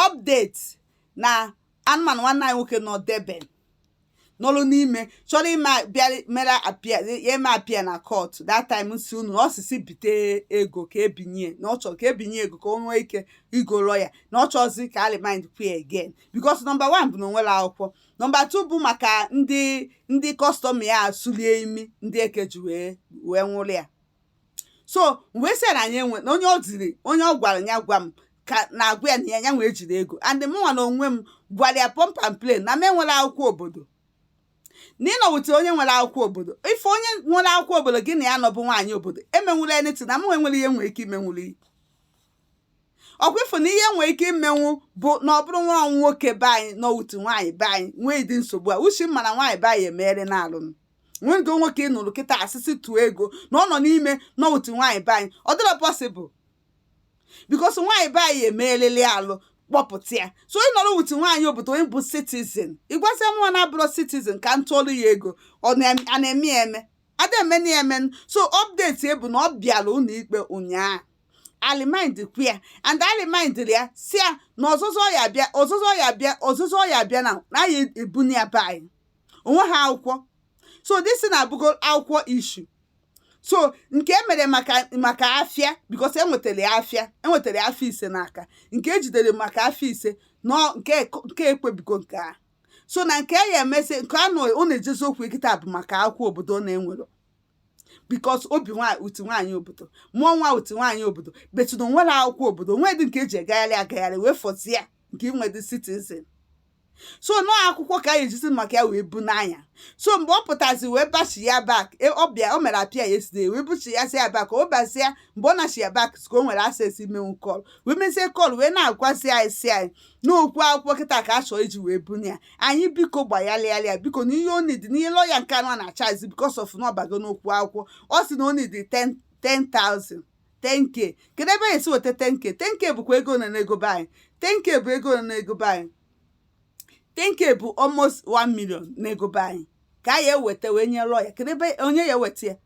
update na anụmanụ nwanne anyị nwoke nọ Durban nọlụ n'ime chọrọ ime bịa mere appear ya eme appear na court that time m si unu na ọ sị sị bite ego ka e binye na ọ chọrọ ka e binye ego ka o nwee ike igo lawyer na ọ chọzi ka a remandịkwa ya again because number one bụ na o nwerọ akwụkwọ number two bụ maka ndị ndị custom ya sulie imi ndị eke ji wee wee nwụrụ ya so mgbe esi na anyị enwe na onye ọ ziri onye ọ gwara ya gwa m ka na-agwa ya na ya ya nwee jiri ego and mụnwa na onwe m gwara ya pump and plain na m enwerọ akwụkwọ obodo na ị nọ with onye nwere akwụkwọ obodo ife onye nwere akwụkwọ obodo gị na ya nọ bụ nwaanyị obodo emenwula anything na m nwe nwerọ ihe m nwere ike imenwuru gị ọ kwa ị fụ na ihe nwere ike imenwu bụ na ọ bụrụ nwa nwoke be anyị nọ with nwaanyị be anyị nwee ụdị nsogbu a which m ma na nwaanyị be anyị emeere na-alụnụ nwego nwoke ị nụrụ kịta a sị sị tụọ ego na ọ nọ n'ime nọ with nwaanyị be anyị ọ dịrọ possible because nwaanyị be anyị emeelele alụ kpọpụta ya so ị nọrọ with nwaanyị obodo onye bụ citizen ị gwazịa mụnwa na-abụrọ citizen ka m tụọrụ ya ego ọ na- a na-eme ya eme a da-emenụ ya eme so update bụ na ọ bịara ụlọikpe ụnyaahụ a remandịkwa ya and a remandịrị ya si ya na ọzọzọ ya bịa ọzọzọ ya bịa ọzọzọ ya bịa na a ya-ebuna ya be anyị o nweha akwụkwọ so this thing abụgo akwụkwọ issue so nke emere maka maka afịa because enwetara ya afịa enwetara ya afịa ise n'aka nke ejidere maka afịa ise nọ nke nke e kwubigo nke a so na nke ya emezi nke anụ ọ na-ejezi okwu ya kịta bụ maka akwụkwọ obodo ọ na-enwerọ because o bi nwaanyị with nwaanyị obodo mụọ nwa with nwaanyị obodo but na o nwerọ akwụkwọ obodo o nwedị nke e ji agagharị agagharị wee fọzie nke inwedị citizen so na ọ akwụkwọ ka a ya-ejizi maka ya wee bunaa ya so mgbe ọ pụtazi wee bachi ya back e, ọ bịa o mere appear yesterday wee buchi ya si ya back o bazi ya mgbe ọ nachi ya back ka o nwere access imenwu call wee mezie call wee na-agwazi anyị si anyị n'okwu akwụkwọ kịta ka a chọọ iji wee buna ya anyị biko gbayalụ ya biko na ihe o need na ihe lawyer nke anụ a na-achazi because of na ọ bago n'okwu akwụkwọ ọ sị na o need 10,000 10k kedu ebe a ya-esi weta 10k 10k bụkwa ego na n'ego be anyị 10k bụ ego na n'ego be anyị 10k bụ almost 1 million n'ego be anyị ka a ya-eweta wee nye lawyer kedu ebe onye ya-eweta ya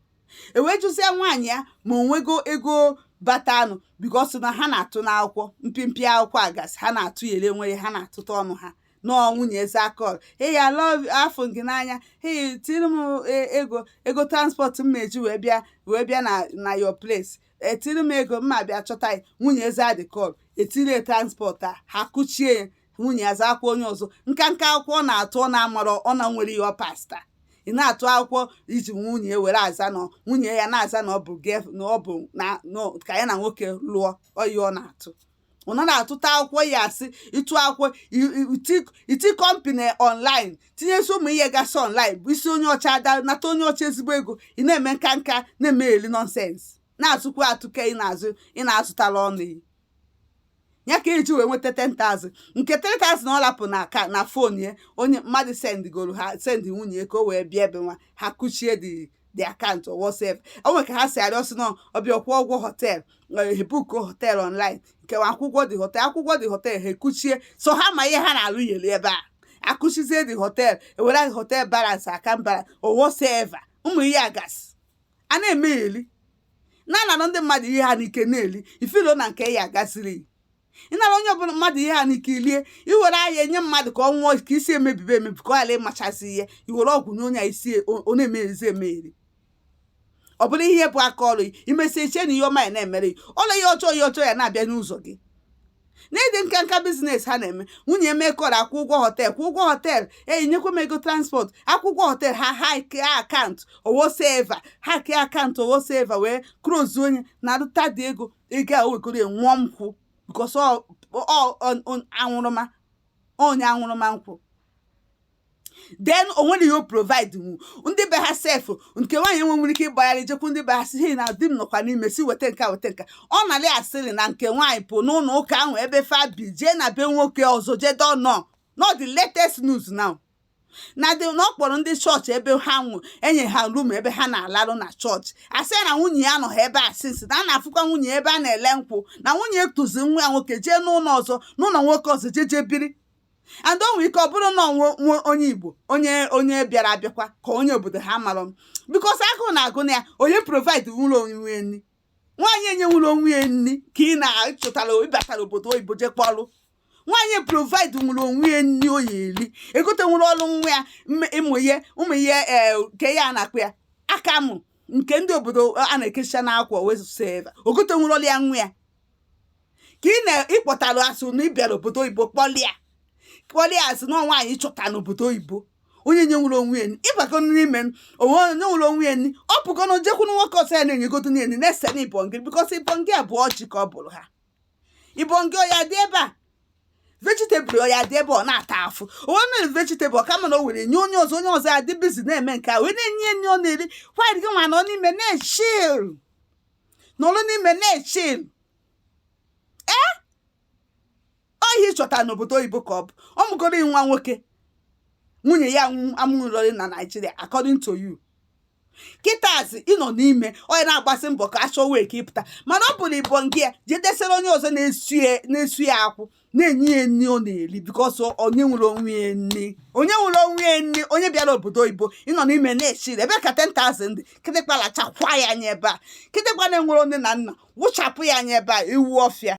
e wee jụzie nwaanyị ya ma o nwego ego batanụ because na ha na-atụ n'akwụkwọ mpịmpị akwụkwọ agasị ha na-atụ ya ele nwere ha na-atụta ọnụ ha na ọ nwunye ya azaa call hey I love afụ m gị n'anya hey tiiri m e- ego ego transport m eji wee bịa wee bịa na na your place tiiri m ego mma bịa chọta ya nwunye ya zadị call e tiiri transport a ha kụchie ya nwunye ya zakwa onye ọzọ nka nka akwụkwọ ọ na-atụ ọ na-amarọ ọ na nwere ihe ọ pasta ị na-atụ akwụkwọ iji nwunye ya were aza na nwunye ya na-aza na ọ bụ girl na ọ bụ na na- ka ya na nwoke lụọ ọyị ọ na-atụ ọ na-atụta akwụkwọ ya asị ịtụ akwụkwọ iti company online tinyesi ụmụ ihe gasị online bụ isi onye ọcha ada nata onye ọcha ezigbo ego ị na-eme nka nka na-eme eli nonsense na-atụkwa atụke ị na-azụ ị na-azụtara ọnụ ya ka eji wee nweta 10,000 nke 3,000 ọ lapụ na aka na fon ya onye mmadụ sendigoro ha sendi nwunye ka o wee bịa ebe nwa ha kuchie the the account or whatsoever o nwere ka ha si arịọ sị na ọ bịa kwụọ ụgwọ hotel e book hotel online nke akwụkwọ the hotel akwụkwọ the hotel ha ekuchie so ha ma ihe ha na-alụ eli ebe a akuchizie the hotel ewere hotel balance aka mbara or whatsoever ụmụ ihe a gasị ha na-eme eli na-anara ndị mmadụ ihe ha n'ike na-eli ifilo na nke a gasịrị ịnara onye ọbụla mmadụ ihe ha n'ike ilie iwere ahịa enye mmadụ ka ọ nwụọ ka isi emebibe emebi ka ọ ghara ịmachasị ihe iwere ọgwụ nye onye a isi e, ọ na-emezi emeri ọ bụrụ ihe bụ aka ọrụ imesi iche na ihe ọma ya na-emere gị ọrụ ihe ọjọọ ihe ọjọọ ya na-abịa n'ụzọ gị n'ụdị nka nka business ha na-eme nwunye emekọrọ akwụ ụgwọ hotel kwụ ụgwọ hotel enyi nyekwa m ego transport akwụ ụgwọ hotel ha hack account or whatsoever hack account or whatsoever wee close onye na-arụta the ego ike a wekọrọ ya nwụọ nkwụ because ọ ọ- ọ- ọ- anwụrụma onye anwụrụma nkwụ then o nwere ihe o provide nwu ndị be ha sef nke nwaanyị enwe nwere ike ịgbagharị jekwu ndị be ha si hei na di m nọkwa n'ime si weta nke a weta nke a." ọ nalị asịrị na nke nwaanyị pụ n'ụlọ ụka ahụ ebe fa bi jee na be nwoke ọzọ jee dọnọ not the latest news now na dị na ọ kpọrọ ndị church be ha enye ha room ebe ha na-alarụ na church asị na nwunye ya anọha ebe a since na a na-afụkwa nwunye ebe a na-ele nkwụ na nwunye tụzi nwa ya nwoke jee n'ụlọ ọzọ n'ụlọ nwoke ọzọ jee jee biri and o nwere ike ọ bụrụ na ọ onye igbo onye onye bịara abịakwa ka onye obodo ha mara m because agụụ na-agụ na ya onye provide nwulọ onwe nri nwaanyị enyenwulọ onwe ya nri ka ị na-achọtara ịbatara obodo oyibo je kpọlụ nwaanyị provide nwerọ onwe ya nri o ya eri egote nwerọlụ nwa ya ụmụ ihe ụmụ ihe eh, nke a na-akpọ ya akamụ nke ndị obodo a na-ekecha n'akwa or whatsoever o gote nwerọlụ ya nwa ya ka ị na-ịkpọtara asị na ịbịara obodo oyibo kpọlịa kpọlịa asị na nwaanyị chọta n'obodo oyibo onye nye nwerọ onwe ya ịbago n'ime onwe onye nwere onwe ya ọ pụgo na o jekwuru nwoke ọzọ ya na-enyegodo na enyi na-ese na ibongi because ibongi a bụ ọjị ka ọ bụrụ ha ibongi ọya dị ebe a vegetable ọya dị ebe ọ na-ata afụ onwe mere vegetable kama na o were nye onye ọzọ onye ọzọ ya dị busy na-eme nke a wee na-enye nri ọ na-eri while gị nwa nọ n'ime na-echil nọrọ n'ime na-echil ee ọ ihe ị chọtara n'obodo oyibo ka ọ bụ ọ mụgoro nwa nwoke nwunye ya amụrụrị na nigeria according to you kịtazi ị nọ n'ime onye na-agbasi mbọ ka a chọọ way ka ị pụta mana ọ bụrụ ịbọ nke ya jidesiri onye ọzọ na-esu ya akwụ na-enye ya nri ọ na-eri because onye nwere onwe ya na-eri onye nwere onwe ya na-eri onye bịara obodo oyibo ị nọ n'ime na-esiri ebe ka 10,000 kịtịkpa lachakwa ya anya ebe a kịtịkpa na-enwere nne na nna wụchapụ ya anya ebe a ewu ọfịa